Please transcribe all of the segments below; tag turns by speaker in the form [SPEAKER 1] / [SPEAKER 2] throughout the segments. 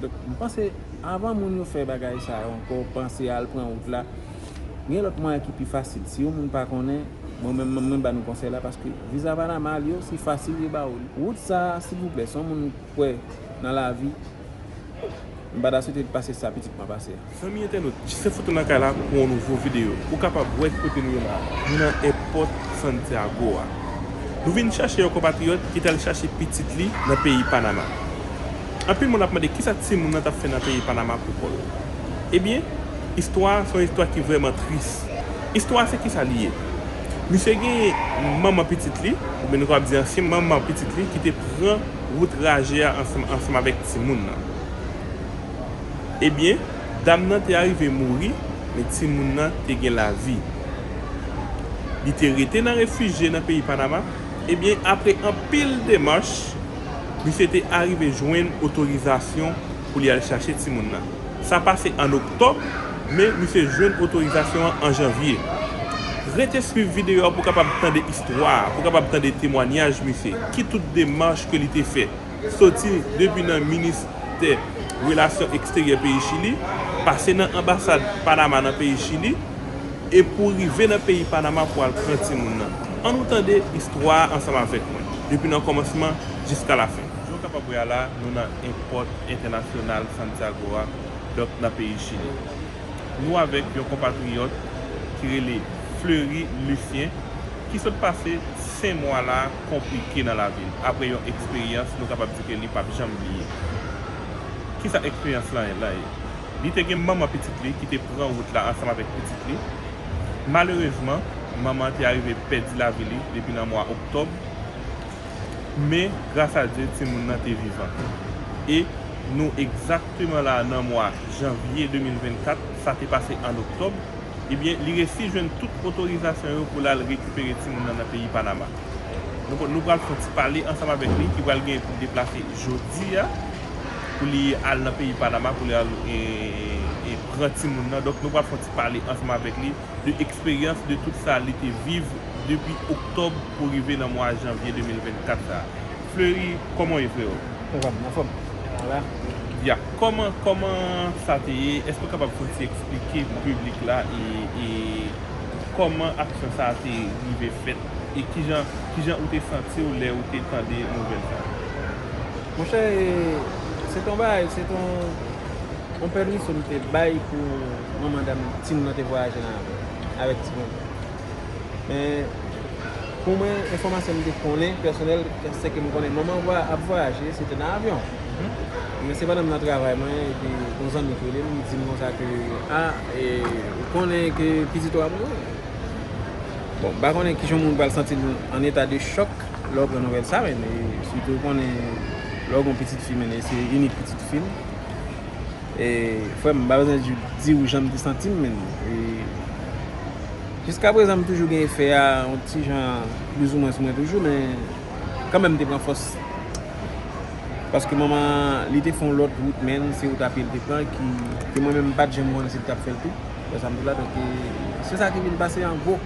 [SPEAKER 1] Donk m panse avan moun yo fè bagay sa yo ankò panse al pran wout la gen lòt mwayen ki pi fasil si yon moun pa konnen mwen menm m ap ba nou konsèy la paske viza panama al yo se fasil yo ba ou li. Wout sa silvouplè si yon moun kwè nan lavi m pa ta swete l pase sa pitit mwen pase a. Zanmi entènot,
[SPEAKER 2] Jisèfoto nan kay la pou yon nouvo videyo. Ou kapab wè ki kote nou ye la a. Nou nan èpòt Santiago a. Nou vin chache yon konpatriyòt ki t al chache pitit li nan peyi Panama. Anpil moun ap mande kisa timoun nan t ap fè nan peyi Panama kou kò l. Ebyen, istwa a se yon istwa ki vrèman tris. Istwa a se kisa li ye. Misye genyen manman pitit li, oubyen nou kapab di ansyen manman pitit li ki te pran wout raje a ansanm avèk timoun nan. Ebyen, dam nan te arive mouri, men timoun nan te gen lavi. Li te rete nan refijye nan peyi Panama, ebyen apre anpil demach, misye te arive jwenn otorizasyon pou li al chache timoun nan. Sa pase an Oktòb, men misye jwenn otorizasyon an an Janvye. Rete swiv videyo a pou w kapab tande istwa a, pou w kapab tande temwanyaj misye, ki tout demach ke li te fè. soti depi nan Ministè Relasyon Eksteryè peyi Chili, pase nan Anbasad Panama nan peyi Chili, e pou rive nan peyi Panama pou al pran timoun nan. An nou tande istwa a ansanm avèk mwen, depi nan kòmansman jiska lafen. Jan w kapab wè a la, nou nan Èpòt Entènasyonal Santiago a, donk nan peyi Chili. Nou avèk yon konpatriyòt ki rele Fleury Lucien, ki sot pase 5 mwa la, konplike nan lavi n. Apre yon eksperyans, nou kapab di ke li pap janm bliye. Kisa eksperyans lan ye? Li te gen manman pitit li ki te pran wout la ansanm avèk pitit li. Malerezman, manman an te arive pèdi lavi li depi nan mwa oktòb, men gras a Dye timoun nan te vivan. E nou egzakteman la nan mwa janvye 2024, sa te pase an oktòb. Ebyen li resi jwenn tout otorizasyon yo pou l al rekipere timoun nan nan peyi Panama. Nou pral fon ti pale ansanm avèk li ki pral genyen pou l deplase jodi a pou li al nan peyi Panama pou li al pran timoun nan. Donk nou pral fon ti pale ansanm avèk li de eksperyans de tout sa li te viv depi oktòb pou rive nan mwa janvye 2024 sa a. Fleury kòman w ye freo. Sa va byen anfòm
[SPEAKER 1] ou la. Ya
[SPEAKER 2] kòman kòman sa te ye èske ou kapab fon ti eksplike pou piblik la e kòman aksyon sa te rive fèt e kijan kijan ou te santi w lè ou te tande nouvèl sa. Monchè
[SPEAKER 1] e se te yon bagay se te yon pèmisyon m te bay pou manman dam ti moun nan te vwayaje nan avyon avèk ti moun Men, pou mwen, enfòmasyon m te konnen, pèsonèl, se ke m konnen manman m ap vwayaje, se te nan avyon. Men se pandan m nan travay mwen, epi yon zanmi ki rele m, li di m konsa ke, a, e, ou konnen ke pitit ou a mouri? Bon, m pa konnen kijan yon moun pral santi l an eta de chòk lè w pran nouvèl sa, men, sitou ou konnen lè w gen yon pitit fi, men, e se inik pitit fi m. Frèm m pa bezwen diw janm te santim menn jiska prezan m toujou gen efè a yon ti jan plis ou mwen sou mwen toujou men kanmèm m te pran fòs paske manman li te fon lòt wout menn se wout apye li te pran ke mwen menm m pat janm konnen si li tap fèl tou se sa ki vin pase an gwo.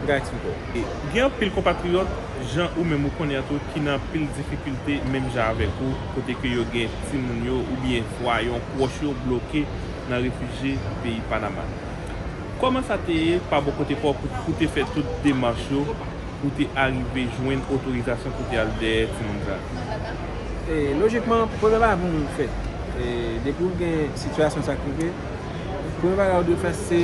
[SPEAKER 1] Guy Twitter.
[SPEAKER 2] Gen anpil konpatriyòt jan ou menm ou konnen an tou ki nan anpil difikilte menm jan avèk ou kote ke yo gen timoun yo oubyen swa yon pwòch yo bloke nan refijye peyi Panama. Kòman sa te ye pa bò kote pa w pou ou te fè tout demach yo pou w te arive jwenn otorizasyon pou w te al dèyè timoun sa a? Lojikman,
[SPEAKER 1] premye bagay pou moun fè depi ou gen sitiyasyon sa k rive, premye bagay ou dwe fè se.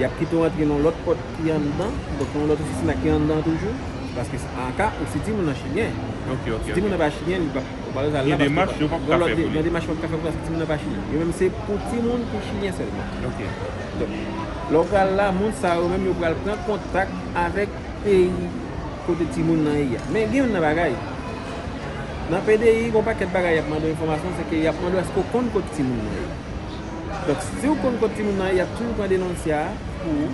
[SPEAKER 1] y ap kite w antre nan yon lòt pòt ki anndan, donk yon lòt ofisin la ki anndan toujou, paske aka ou si timoun nan chilyen, si timoun nan pa chilyen li pap, ou pa bezwen al la paske gen demach yo pap ka fè pou li, gen demach yo pap ka fè pou li paske timoun nan pa chilyen, yo menm se pou timoun ki chilyen sèlman, donk lè w pral la moun sa yo menm yo pral pran kontak avèk peyi kote timoun nan ye a, men gen yon nan bagay, nan PDI gen yon pakèt bagay y ap mande w enfòmasyon se ke y ap mande w èske w konn kote timoun nan ye. Donk si ou konn kot timoun nan ye yap toujou pran denonsya pou ou.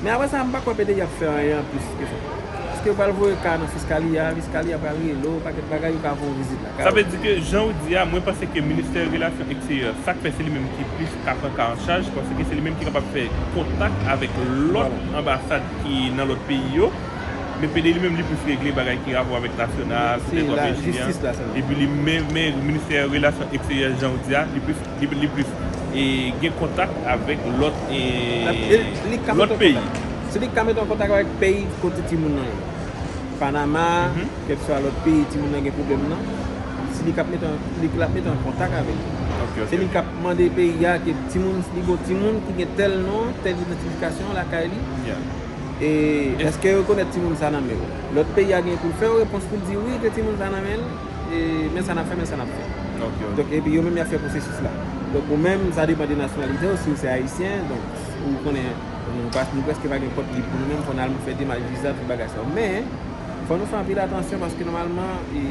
[SPEAKER 1] Men aprè sa mpa kwè pdi ap fè anyen anplis ke sa. Eske yo pral voye ka nan fiskalia, fiskalia pral rele ou paket bagay yo ka fon vizit lakay ou. Sa vle di ke jan ou
[SPEAKER 2] di a mwen panse ke ministè relasyon eksteryè sak fè se li menm ki plis ka pran ka an chaj paske se li menm ki kapab fè kontak avèk lòt anbasad ki nan lòt peyi yo. Men PD li menm li plis regle bagay ki rapò avèk nasyonal, poutèt wap ekri an,
[SPEAKER 1] epi li men men
[SPEAKER 2] ministè relasyon eksteryè jan ou di a, li plis li plis e gen kontak avèk lòt e lòt peyi. Se li
[SPEAKER 1] ki ka mete w an kontak avèk peyi kote timoun nan ye. Panama, kèlkeswa lòt peyi timoun nan gen pwoblèm nan, se li kap mete li lap mete w an kontak avèk yo. Se li kap mande peyi a ke timoun li gen yon timoun ki gen tèl non, tèl idantifikasyon lakay li. E eske rekonèt timoun sa nan menw? Lòt peyi a gen poul fèw repons poul di wi gen timoun sa nan menl e men sa nap fè men sa nap fè. Donk epi yo menm yap fè pwosesis la. Donk ou menm sa depan de nasyonalitew siw se ayisyen donk ou konnen nou pa nou preske pa gen pòt lib pou nou menm fò nal fè demach viza tout bagay sa yo. Men fò nou fè anpil atansyon paske nòmalman e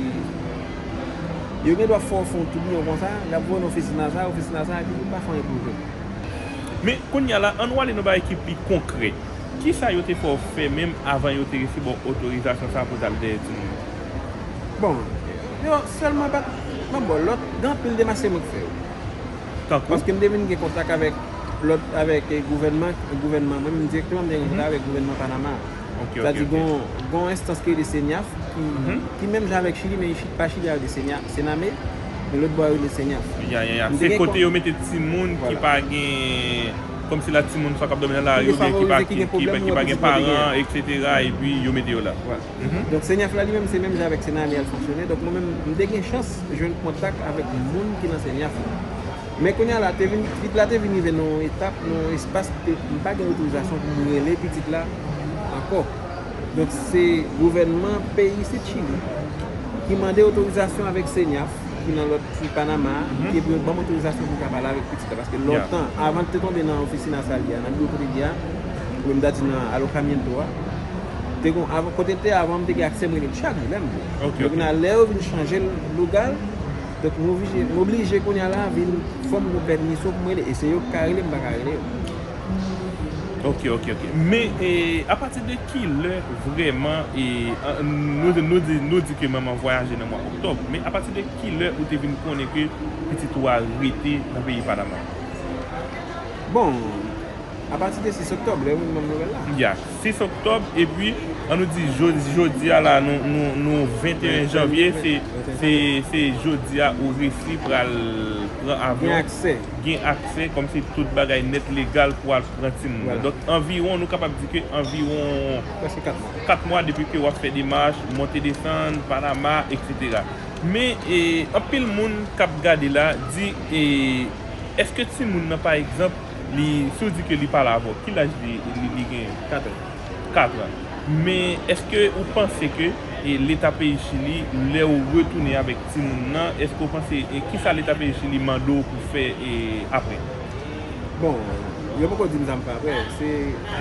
[SPEAKER 1] yo gen dwa fè w fon toubiyon konsa yap voye nan ofis natal ofis natal epi poul pa fè anyen pou yo jwenn ou. Men,
[SPEAKER 2] kounye a la, annou ale nan bagay ki pi konkrè. Ki sa yo te fè w fè menm avan yo te resi ba w otorizasyon sa a pou w t al dèyè timoun yo?
[SPEAKER 1] Bon, yo sèlman pa t nan bò lòt. Gen anpil demach se mwen ki fè yo. Tankou? Paske m te vin gen kontak avèk lòt, avèk gouvènman, gouvènman, mwen menm dirèkteman m te gen kontak avèk gouvènman Panama a. Ok, ok, ok. Gon enstans ki rele CENIAF ki menm jan avèk Chili men pa Chili a yo rele CENAME. E lot bwa yo rele senyas. Ya ya ya se kote
[SPEAKER 2] yo mete timoun ki pa gen kom si la timoun sa kap domi nan lari ou byen ki pa ki pa gen paran etc epi yo mete yo la. Donk senyas la
[SPEAKER 1] li menm se menm jan avèk senami al fonksyone donk mwen menm m te gen chans jwenn kontak avèk moun ki nan senyas la men kounya la te vin pitit la te vin rive nan yon etap nan yon espas kote m pa gen otorizasyon pou m rele pitit la ankò. Donk se gouvènman peyi isit Chili ki mande otorizasyon avèk CENIAF ki nan lòt ki Panama a ki te pou yo ban m otorizasyon pou m ka pale avèk pitit la paske lontan avan l te tonbe nan ofisina sa li a nan biwo kote l ye a oubyen m ta di nan alokamiento a te gon avan kote l te ye avan m te gen aksè m rele l chak jou lè m vle donk kounya lè yo vin chanje l lugar l donk m oblije kounya la vin fò m gon pèmisyon pou m rele e se yo ki ka rele m m pa ka rele yo. Ok
[SPEAKER 2] ok ok men apati de ki lè vreman nou di ke manman vwayaje nan mwa oktòb men apati de ki lè ou te vin konnen ke pitit ou a rete nan peyi panama.
[SPEAKER 1] Bon apati de 6 oktòb lè ou vin banm nouvèl
[SPEAKER 2] la. Ya 6 oktòb epi an nou di jodia la nou 21 janvye se jodia ou resi pral pran avyon. gen aksè kòm se tout bagay nèt legal pou al pran timoun nan. Donk anviwon nou kapab di ke anviwon 4 mwa depi ke wap fè demach, monte desann, Panama, etc. Men anpil moun kap gade la di eske timoun nan pa egzanp li si ou di ke li pa la avèw ki laj li genyen? 4 an. ka pran. Men eske ou panse ke leta peyi chili lè ou retounen avèk timoun nan eske ou panse kisa leta peyi chili mande w pou fè aprè? Bon
[SPEAKER 1] yo poko dim sa m fè aprè se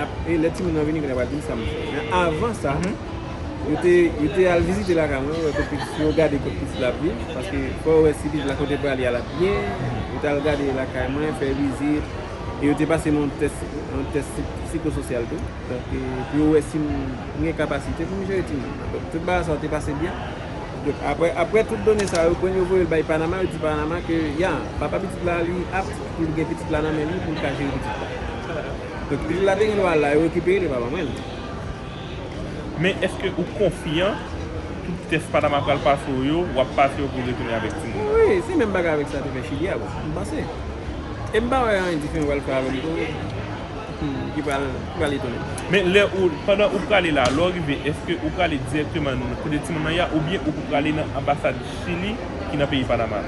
[SPEAKER 1] aprè lè timoun nan vini kounye a yo pral dim sa m fè men avan sa yo te yo te al vizite lakay mwen wè kot pitit yo gade kot pitit la ap viv paske fò yo wè si pitit la kote l prale a l ap byen yo t al gade lakay mwen fè vizit. e yo te pase m yon tès, yon tès psikososyal tou, donk pou yo wè si m gen kapasite pou m jere timoun nan. Donk tout bagay sa yo te pase byen. Donk aprè, aprè tout done sa yo, kwen yo voye l bay Panama, yo di Panama ke ya, papa pitit la li apt pou l gen pitit la nan men li pou l ka jere pitit la. Donk pitit la te gen dwa al la, yo rekipere l, yo pa ban mwen l.
[SPEAKER 2] Men eske ou konfyan tout tès Panama pral pase w yo, wap pase yo pou w retounen avèk timoun nan? Wi, se menm bagay avèk
[SPEAKER 1] sa te fè Chili a bon, m panse. E m pa wè anyen diferan pral fè avèm tou ki pral etone m. Men lè ou,
[SPEAKER 2] pandan ou prale la, lè w rive eske ou prale dirèkteman nan kote timoun nan ye a oubyen ou pou prale nan anbasad Chili ki nan peyi Panama?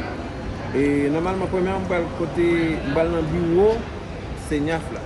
[SPEAKER 2] E
[SPEAKER 1] nòmalman premyèman m pral kote, m pral nan biwo CENIAF la.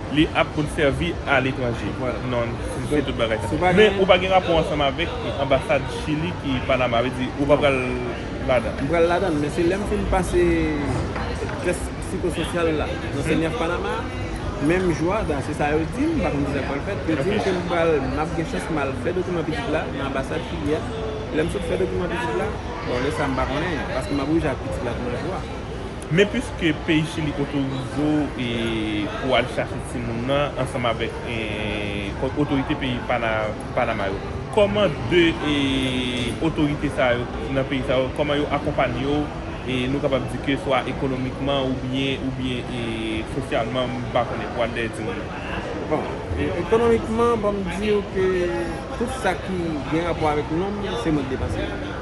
[SPEAKER 2] li
[SPEAKER 1] ap konn
[SPEAKER 2] sèvi a letranje. Non,
[SPEAKER 1] se tout
[SPEAKER 2] bagay sa. Men
[SPEAKER 1] ou pa
[SPEAKER 2] gen rapò
[SPEAKER 1] ansanm
[SPEAKER 2] avèk anbasad Chili ki Panama, sa vle di ou pa pral ladan. M pral ladan, men se
[SPEAKER 1] lè m fin pase tès psikososyal la nan CNIAF Panama a, menm jou a, se sa yo di m, m pa konn ki sa k pral fèt, yo di m ke m pral, m ap gen chans m al fè dokiman pitit la nan anbasad Chili a, lè m sot fè dokiman pitit la, bon lè sa m pa konnen, paske m ap oblije ak pitit la tou nan jou a. Men piske
[SPEAKER 2] peyi Chili otorize w pou al chache timoun nan ansanm avèk otorite peyi Panama yo, kòman 2 otorite sa yo nan peyi sa yo, kòman yo akonpanye w, nou kapab di ke swa ekonomikman oubyen oubyen sosyalman, m pa konnen, pou al dèyè timoun nan? Bon,
[SPEAKER 1] ekonomikman, banm di w ke tout sa ki gen rapò avèk nonm, se mwen k depanse l.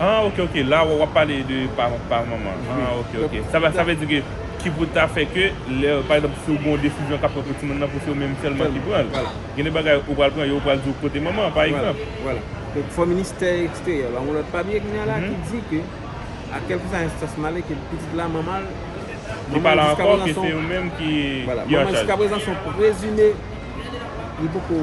[SPEAKER 1] Ah ok
[SPEAKER 2] ok la wap pale de pa manman ah ok ok sa vle di ke ki pou ta fè ke lè pa egzanp si ou gen yon desizyon kap pran pou timoun nan pou se ou menm sèlman ki pranl gen de bagay ou pral pran yo pral diw kote manman pa egzanp. Vwala donk fò
[SPEAKER 1] ministè eksteryè ba yon lòt papye kounya la ki di ke a kèlkeswa enstans m ale ke pitit la manmanl li pa la
[SPEAKER 2] ankò ke se ou menm ki anchaj manmanl jiskaprezan
[SPEAKER 1] son prezime li poko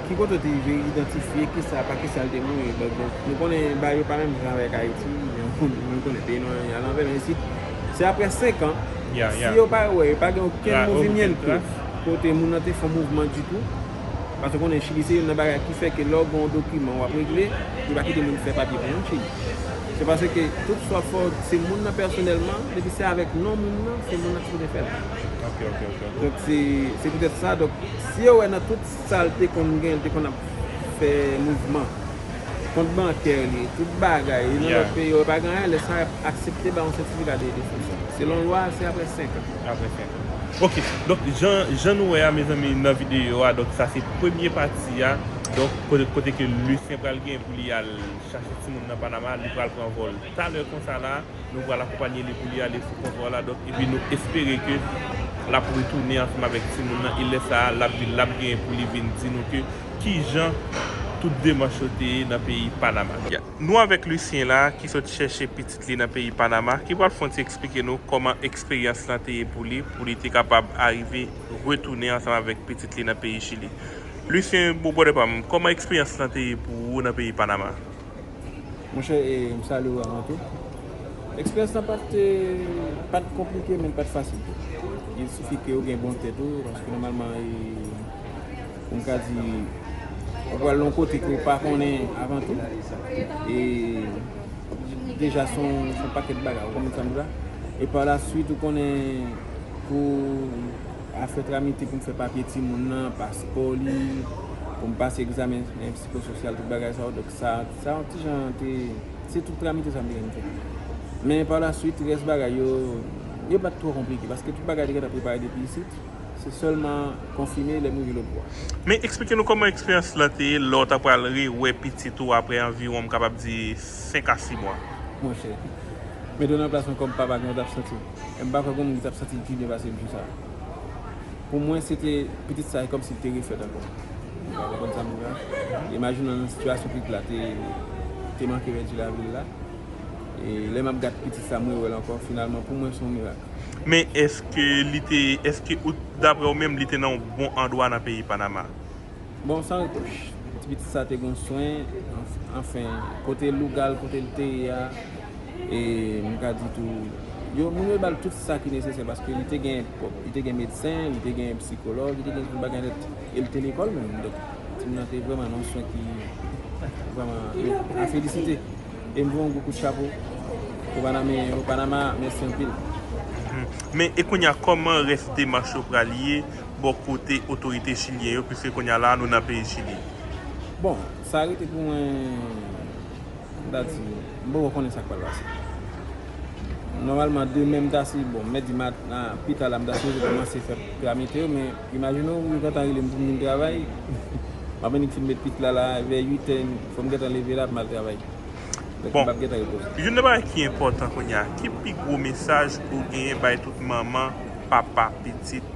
[SPEAKER 1] Ki kote w te rive idantifye kisa pa kisa l te mouri? Nou konnen Bay yo pa menm jan avèk Ayiti, nou konnen peyi nou an li alanvè men isit se aprè 5 an si yo pa wè yo pa gen okenn movimiento kote moun nan te fè yon mouvman ditou paske w konnen Chili se youn nan bagay ki fè ke lè w gen yon dokiman w ap regle yo pa kite moun fè papye pou moun Chili se paske tout sa w fè w se moun nan pèsonèlman depi se avèk non moun nan se moun nan ki sipoze fè l
[SPEAKER 2] donk
[SPEAKER 1] se poutèt sa donk si yo wè nan tout Sal te konn gen li te konn ap fè mouvman kont bankè li tout bagay li nan lòt peyi yo pa gen anyen lè sa yap aksepte ba yon sètifika de destriksyon selon lwa se aprè 5 an. Aprè 5 an ok donk
[SPEAKER 2] jan jan nou wè a mezanmi nan videyo a donk sa se premye pati a donk kote kote ke Lucien pral gen pou li al chache timoun nan Panama li pral pran vòl talè konsa la. Nou pral akonpanye li pou li ale sou kont Warladok epi nou espere ke l ap retounen ansanm avèk timoun nan e lè sa a l ap vin l ap genyen pou li vin di nou ke kijan tout demanch yo te ye nan peyi Panama. Nou avèk Lucien la ki sot chèche pitit li nan peyi Panama ki pral fè yon ti eksplike nou kòman eksperyans lan te ye pou li pou li te kapab arive retounen ansanm avèk pitit li nan peyi Chili. Lucien bro brother pa m kòman eksperyans lan te ye pou ou nan peyi Panama?
[SPEAKER 1] Monchè e m salye ou avan tou. Eksperyans lan pa te pa t konplike men li pa t fasil tou. Il sifi ke ou gen bon tèt ou paske nòmalman e pou m ka di ou pral yon kote ke ou pa konnen avan tou e deja se yon pakèt bagay ou konprann sa m di la e pa la swit ou konnen pou afè tramite pou m fè papye timoun nan, paspò li, pou m pase egzamen. Kò sosyal, tout bagay sa yo. Donk sa, sa yon ti jan te, se tout tramite sa m te gen pou m fè. Men pa la swit, rès bagay yo, yo pa t twò konplike. Paske tout bagay te gentan prepare depi isit. Se sèlman konfime lè m rive lotbò. Men eksplike nou kòman
[SPEAKER 2] eksperyans la te ye lè w ta pral rewè pitit ou aprè anviwon m kapab di 5 a 6 mwa. Monchè,
[SPEAKER 1] mete w nan plas mwen kòm papa, kijan w t ap santi w? M pa kwè gen yon moun ki t ap santi l pi byen pase m sou sa. Pou mwen se te pitit sa e kòm si l te refèt ankò. Ou ka konprann sa m di la? Imajine w nan sitiyasyon pitit la te manke pèdi lavi l la. E lè m ap gad pitit sa m rewè l ankò. Finalman pou mwen se yon mirak. Men èske
[SPEAKER 2] li te, èske ou, daprè ou menm li te nan yon bon andwa nan peyi Panama? Bon san
[SPEAKER 1] retouch ti pitit sa te gon swen anfen kote lougal kote li te ye a e m ka di tou yo moun yo bal tout sa ki nesesè paske li te gen li te gen medsen li te gen psikològ li te gen tout bagay nèt e li te lekòl menm donk ti moun nan te vrèman nan yon swen ki vrèman a felisite e m voye yon gwo kout chapo pou paname yo panama mèsi anpil. Men
[SPEAKER 2] e kounya kòman rès demach yo pral ye bò kote otorite chilyen yo piske kounya la nou nan peyi Chili. Bon,
[SPEAKER 1] sa rete pou mwen m ta di, m poko konnen sa k pral pase. Nòmalman demen m ta si bon mèdi mat a pita la m ta sipoze kòmanse fè pla mete yo men imajine w yo gentan rele m pou m vin travay m ap annik fin met pit la la vè 8 è fò m gentan leve la pou m al travay. Donk m p ap
[SPEAKER 2] gentan repoze. Youn nan bagay ki enpòtan kounya, ki pi gwo mesaj ou genyen bay tout manman, papa, pitit?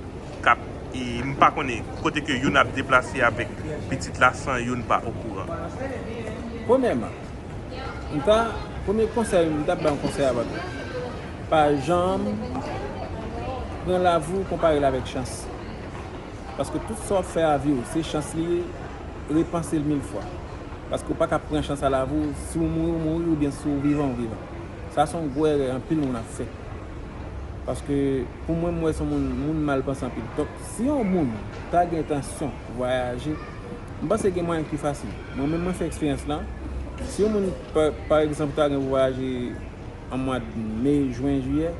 [SPEAKER 2] kap m pa konnen kote ke youn ap deplase avèk pitit la san youn pa okouran.
[SPEAKER 1] Premyèman, m ta, premye konsèy m tap bay yon konsèy a Bato, pa janm pran lavi w konpare l avèk chans. Paske tout sa w ap fè avi w, se chans li ye, repanse l mil fwa. Paske w pa ka pran chans a lavi w, si w mouri w mouri oubyen si w vivan w vivan. Sa se yon gwo èrè anpil moun ap fè. Paske pou mwen m wè son moun moun mal panse anpil. Donk si yon moun ta gen entansyon vwayaje, m panse gen mwayen ki fasil. Mwen menm mwen fè eksperyans lan, si yon moun pa egzanp ta gen pou vwayaje an mwad me, jwen, jiyè,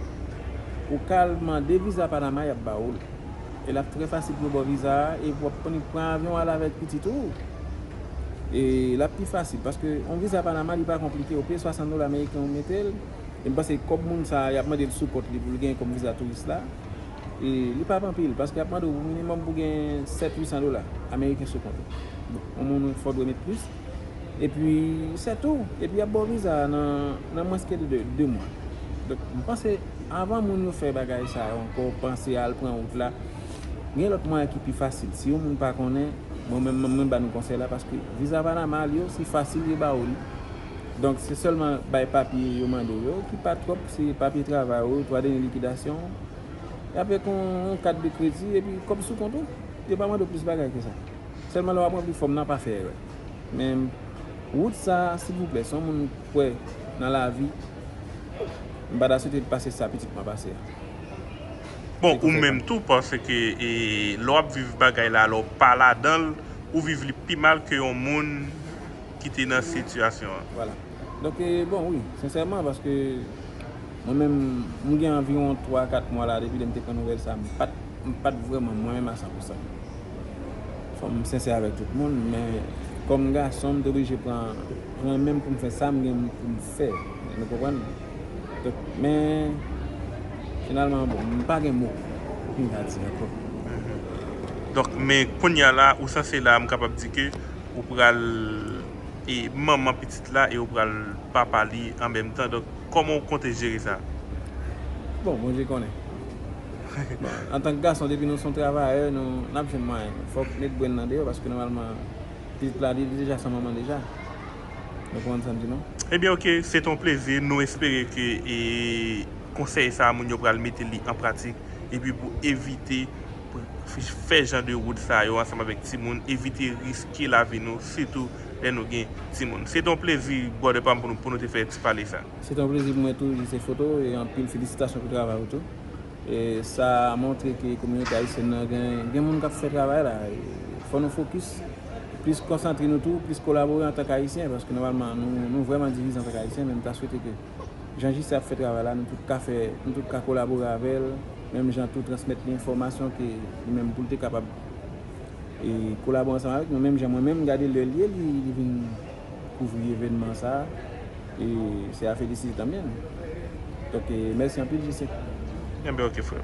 [SPEAKER 1] ou ka al mande viza Panama y ap ba ou l. E l ap trè fasil pou yo ba w viza a e w ap konnen pran avyon al avèk pitit ou. E l ap pi fasil paske yon viza Panama li pa konplike, ou peye 60 dola meriken ou mete l. e m panse kòb moun sa yap mande l sou kont li pou l genyen kòm viza touris la e li pap anpil paske yap mande w pou minimòm pou gen 7 800 dola ameriken sou kont ou bon yon moun fò dwe met plis epi se tou epi yap ba w viza a nan mwens ke 2 mwa donk m panse avan moun yo fè bagay sa yo ankò panse al pran wout la gen lòt mwayen ki pi fasil si yon moun pa konnen mwen menm mwen ba nou konsèy la paske viza panama li osi fasil yo ba w li. Donk se sèlman bay papye yo mande yo ki pa twòp, se papye travay ou, twa dènye likidasyon ou. Y ap fè kon yon kat de kredi epi kòb sou kont ou. Yo pa mande w plis bagay ke sa. Sèlman lè w ap ranpli fòm nan pa fè erè. Men wout sa a silvouplè, si yon moun kwè nan lavi, m pa ta swete l pase sa pitit mwen pase a.
[SPEAKER 2] Bon ou menm tou paske lè w ap viv bagay la lè w pa ladan l, ou viv li pi mal ke yon moun ki te nan sitiyasyon an. Voilà. Donk
[SPEAKER 1] e bon wi, sensèman paske mwen menm m gen anviwon 3 a 4 mwa la depi lè m te pran nouvèl sa m pat m pat vrèman mwen menm a 100 pousan. Fò m sensè avèk tout moun men kòm gason m te oblije pran pran men m pou m fè sa m gen pou m fè. Nou konprann? Donk men finalman bon m pa gen mo pou kounye a di ankò.
[SPEAKER 2] Donk men kounye a la ou sanse la m kapab di ke ou pral e manman pitit la e ou pral papa li an menm tan donk kòman ou konte jere sa? Bon
[SPEAKER 1] Bondye konnen. Bon antank gason depi nou son travayè nou nap jwenn mwayen nou fòk met brenn nan deyò paske nòmalman pitit la li deja san manman deja nou konprann sam di non. Ebyen ok se te yon
[SPEAKER 2] plezi nou espere ke e konsèy sa moun yo pral mete li an pratik epi pou evite fè jan de wout sa yo ansanm avèk timoun, evite riske lavi nou sitou lè nou gen timoun. Se te yon plezi brother pam pou nou pou nou te fè ti pale sa. Se te yon plezi pou mwen tou
[SPEAKER 1] Jise Foto e anpil felisitasyon pou travay ou tou. E sa montre ke kominote ayisyèn nan gen moun kap fè travay la. Fò nou fokis, plis konsantre nou tou, plis kolabore antank ayisyen paske nòmalman nou vrèman divize antank ayisyen men m ta swete ke. Jan JC ap fè travay la nou tout ka fè, nou tout ka kolabore avè l, menm jan tou transmèt li enfòmasyon ke li menm pou l te kapab kolabore ansanm avèk nou, menm jan mwen menm gade lè l ye li vin kouvri evènman sa e se a felisite tanmenm. Donk mèsi
[SPEAKER 2] anpil
[SPEAKER 1] JC. Enben
[SPEAKER 2] ok
[SPEAKER 1] freo.